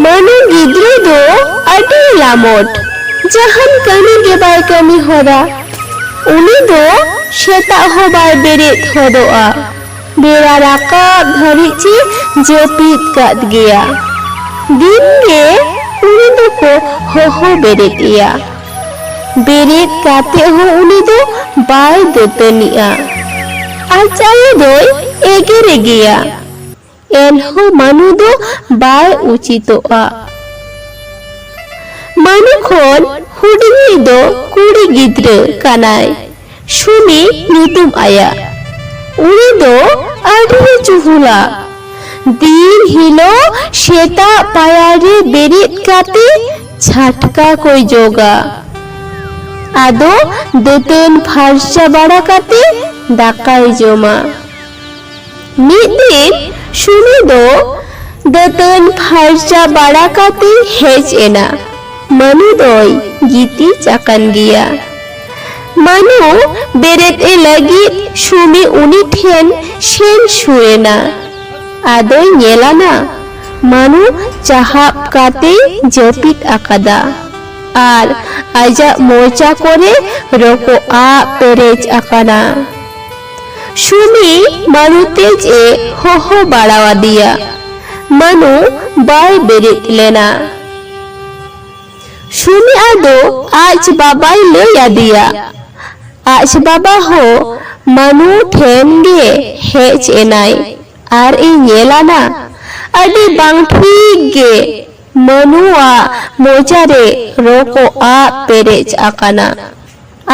ᱢᱟᱹᱱᱩ ᱜᱤᱫᱽᱨᱟᱹ ᱫᱚ ᱟᱹᱰᱤ ᱞᱟᱢᱚᱴ ᱡᱟᱦᱟᱱ ᱠᱟᱹᱢᱤ ᱜᱮ ᱵᱟᱭ ᱠᱟᱹᱢᱤ ᱦᱚᱨᱟ ᱩᱱᱤ ᱫᱚ ᱥᱮᱛᱟᱜ ᱦᱚᱸ ᱵᱟᱭ ᱵᱮᱨᱮᱫ ᱦᱚᱫᱚᱜᱼᱟ ᱵᱮᱲᱟ ᱨᱟᱠᱟᱵ ᱫᱷᱟᱹᱨᱤᱡ ᱪᱮ ᱡᱟᱹᱯᱤᱫ ᱠᱟᱫ ᱜᱮᱭᱟ ᱫᱤᱱ ᱜᱮ ᱩᱱᱤ ᱫᱚᱠᱚ ᱦᱚᱦᱚ ᱵᱮᱨᱮᱫ ᱮᱭᱟ ᱵᱮᱨᱮᱫ ᱠᱟᱛᱮ ᱦᱚᱸ ᱩᱱᱤ ᱫᱚ ᱵᱟᱭ ᱫᱟᱹᱛᱟᱹᱱᱤᱜᱼᱟ᱾ ᱟᱡ ᱟᱭᱳ ᱫᱚᱭ ᱮᱜᱮᱨᱮ ᱜᱮᱭᱟ᱾ ᱮᱱᱦᱚᱸ ᱢᱟᱹᱱᱩ ᱫᱚ ᱵᱟᱭ ᱩᱪᱤᱛᱚᱜᱼᱟ᱾ ᱢᱟᱹᱱᱩ ᱠᱷᱚᱱ ᱦᱩᱰᱤᱧᱤᱡ ᱫᱚ ᱠᱩᱲᱤ ᱜᱤᱫᱽᱨᱟᱹ ᱠᱟᱱᱟᱭ᱾ ᱥᱩᱱᱤ ᱧᱩᱛᱩᱢ ᱟᱭᱟ ᱩᱱᱤ ᱫᱚ ᱟᱹᱰᱤ ᱪᱩᱦᱩᱞᱟ ᱫᱤᱱ ᱦᱤᱞᱳᱜ ᱥᱮᱛᱟᱜ ᱯᱟᱭᱟᱨ ᱨᱮ ᱵᱮᱨᱮᱫ ᱠᱟᱛᱮ ᱪᱷᱟᱴᱠᱟ ᱠᱚᱭ ᱡᱚᱜᱟ ᱟᱫᱚ ᱫᱟᱹᱛᱟᱹᱱ ᱯᱷᱟᱨᱪᱟ ᱵᱟᱲᱟ ᱠᱟᱛᱮ ᱫᱟᱠᱟᱭ ᱡᱚᱢᱟ ᱢᱤᱫ ᱫᱤᱱ ᱥᱩᱱᱤ ᱫᱚ ᱫᱟᱹᱛᱟᱹᱱ ᱯᱷᱟᱨᱪᱟ ᱵᱟᱲᱟ ᱠᱟᱛᱮ ᱦᱮᱡ ᱮᱱᱟ᱾ ᱢᱟᱹᱱᱩ ᱫᱚᱭ ᱜᱤᱛᱤᱡ ᱟᱠᱟᱱ ᱜᱮᱭᱟ᱾ ᱢᱟᱹᱱᱩ ᱵᱮᱨᱮᱫ ᱮ ᱞᱟᱹᱜᱤᱫ ᱥᱩᱱᱤ ᱩᱱᱤ ᱴᱷᱮᱱ ᱥᱮᱱ ᱥᱩᱨ ᱮᱱᱟ᱾ ᱟᱫᱚᱭ ᱧᱮᱞ ᱟᱱᱟ ᱢᱟᱹᱱᱩ ᱪᱟᱦᱟᱵ ᱠᱟᱛᱮᱭ ᱡᱟᱹᱯᱤᱫ ᱟᱠᱟᱫᱟ ᱟᱨ ᱟᱡᱟᱜ ᱢᱚᱪᱟ ᱠᱚᱨᱮ ᱨᱚᱠᱚᱜ ᱟᱜ ᱯᱮᱨᱮᱡ ᱟᱠᱟᱱᱟ᱾ ᱥᱩᱢᱤ ᱢᱟᱱᱩ ᱛᱮᱡ ᱮ ᱦᱚᱦᱚ ᱵᱟᱲᱟ ᱟᱫᱮᱭᱟ ᱢᱟᱱᱩ ᱵᱟᱭ ᱵᱮᱨᱮᱫ ᱞᱮᱱᱟ ᱥᱩᱢᱤ ᱟᱫᱚ ᱟᱡ ᱵᱟᱵᱟᱭ ᱞᱟᱹᱭ ᱟᱫᱮᱭᱟ ᱟᱡ ᱵᱟᱵᱟ ᱦᱚᱸ ᱢᱟᱱᱩ ᱴᱷᱮᱱ ᱜᱮ ᱦᱮᱡ ᱮᱱᱟᱭ ᱟᱨ ᱮ ᱧᱮᱞᱟᱱᱟ ᱟᱹᱰᱤ ᱵᱟᱝ ᱴᱷᱤᱠ ᱜᱮ ᱢᱟᱱᱩᱣᱟᱜ ᱢᱚᱪᱟᱨᱮ ᱨᱚᱠᱚᱜ ᱟᱜ ᱯᱮᱨᱮᱡ ᱟᱠᱟᱱᱟ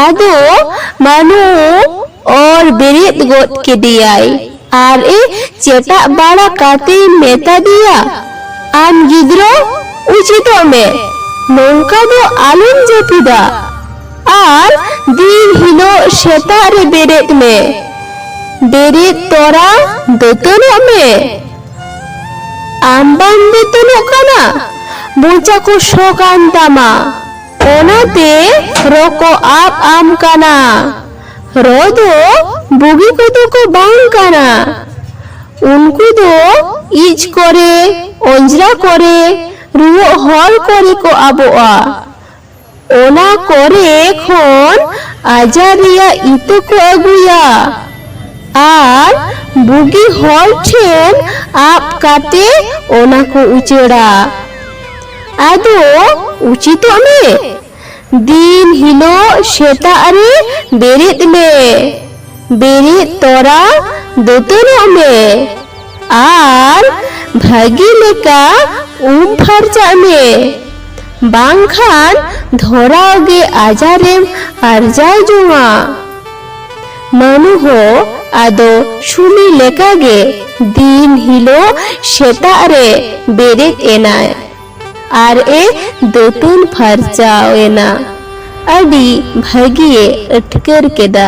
ᱟᱫᱚ ᱢᱟᱱᱩ ᱚᱨ ᱵᱮᱨᱮᱫ ᱜᱚᱫ ᱠᱮᱫᱮᱭᱟᱭ ᱟᱨ ᱮ ᱪᱮᱴᱟᱜ ᱵᱟᱲᱟ ᱠᱟᱛᱮᱭ ᱢᱮᱛᱟᱫᱮᱭᱟ, ᱟᱢ ᱜᱤᱫᱽᱨᱟᱹ ᱩᱪᱤᱛᱚᱜ ᱢᱮ, ᱱᱚᱝᱠᱟ ᱫᱚ ᱟᱞᱚᱢ ᱡᱟᱹᱯᱤᱫᱟ ᱟᱨ ᱫᱤᱱ ᱦᱤᱞᱚᱜ ᱥᱮᱛᱟᱜ ᱨᱮ ᱵᱮᱨᱮᱫ ᱢᱮ᱾ ᱵᱮᱨᱮᱫ ᱛᱚᱨᱟ ᱫᱟᱹᱛᱟᱹᱱᱚᱜ ᱢᱮ᱾ ᱟᱢ ᱵᱟᱢ ᱫᱟᱹᱛᱟᱹᱱᱚᱜ ᱠᱟᱱᱟ, ᱢᱚᱪᱟ ᱠᱚ ᱥᱚ ᱠᱟᱱ ᱛᱟᱢᱟ᱾ ᱚᱱᱟᱛᱮ ᱨᱚ ᱠᱚ ᱟᱵ ᱟᱢ ᱠᱟᱱᱟ ᱨᱚ ᱫᱚ ᱵᱩᱜᱤ ᱠᱚᱫᱚ ᱠᱚ ᱵᱟᱝ ᱠᱟᱱᱟ ᱩᱱᱠᱩ ᱫᱚ ᱤᱡ ᱠᱚᱨᱮ ᱚᱸᱡᱽᱨᱟ ᱠᱚᱨᱮ ᱨᱩᱣᱟᱹᱜ ᱦᱚᱲ ᱠᱚᱨᱮ ᱠᱚ ᱟᱵᱚᱜᱼᱟ ᱚᱱᱟ ᱠᱚᱨᱮ ᱠᱷᱚᱱ ᱟᱡᱟᱨ ᱨᱮᱭᱟᱜ ᱤᱛᱟᱹ ᱠᱚ ᱟᱹᱜᱩᱭᱟ ᱟᱨ ᱵᱩᱜᱤ ᱦᱚᱲ ᱴᱷᱮᱱ ᱟᱵ ᱠᱟᱛᱮ ᱚᱱᱟ ᱠᱚ ᱩᱪᱟᱹᱲᱟ ᱟᱫᱚ ᱩᱪᱤᱛᱚᱜ ᱢᱮ ᱫᱤᱱ ᱦᱤᱞᱳᱜ ᱥᱮᱛᱟᱜ ᱨᱮ ᱵᱮᱨᱮᱫ ᱢᱮ ᱵᱮᱨᱮᱫ ᱛᱚᱨᱟ ᱫᱟᱹᱛᱟᱹᱱᱚᱜ ᱢᱮ ᱟᱨ ᱵᱷᱟᱹᱜᱤ ᱞᱮᱠᱟ ᱩᱢ ᱯᱷᱟᱨᱪᱟᱜ ᱢᱮ ᱵᱟᱝᱠᱷᱟᱱ ᱫᱷᱚᱨᱟᱣ ᱜᱮ ᱟᱡᱟᱨᱮᱢ ᱟᱨᱡᱟᱣ ᱡᱚᱝᱟ ᱢᱟᱹᱱᱩ ᱦᱚᱸ ᱟᱫᱚ ᱥᱩᱢᱤ ᱞᱮᱠᱟ ᱜᱮ ᱫᱤᱱ ᱦᱤᱞᱳᱜ ᱥᱮᱛᱟᱜ ᱨᱮ ᱵᱮᱨᱮᱫ ᱮᱱᱟᱭ ᱟᱨ ᱮ ᱫᱟᱹᱛᱩᱱ ᱯᱷᱟᱨᱪᱟᱣ ᱮᱱᱟ᱾ ᱟᱹᱰᱤ ᱵᱷᱟᱹᱜᱤ ᱮ ᱟᱹᱴᱠᱟᱹᱨ ᱠᱮᱫᱟ᱾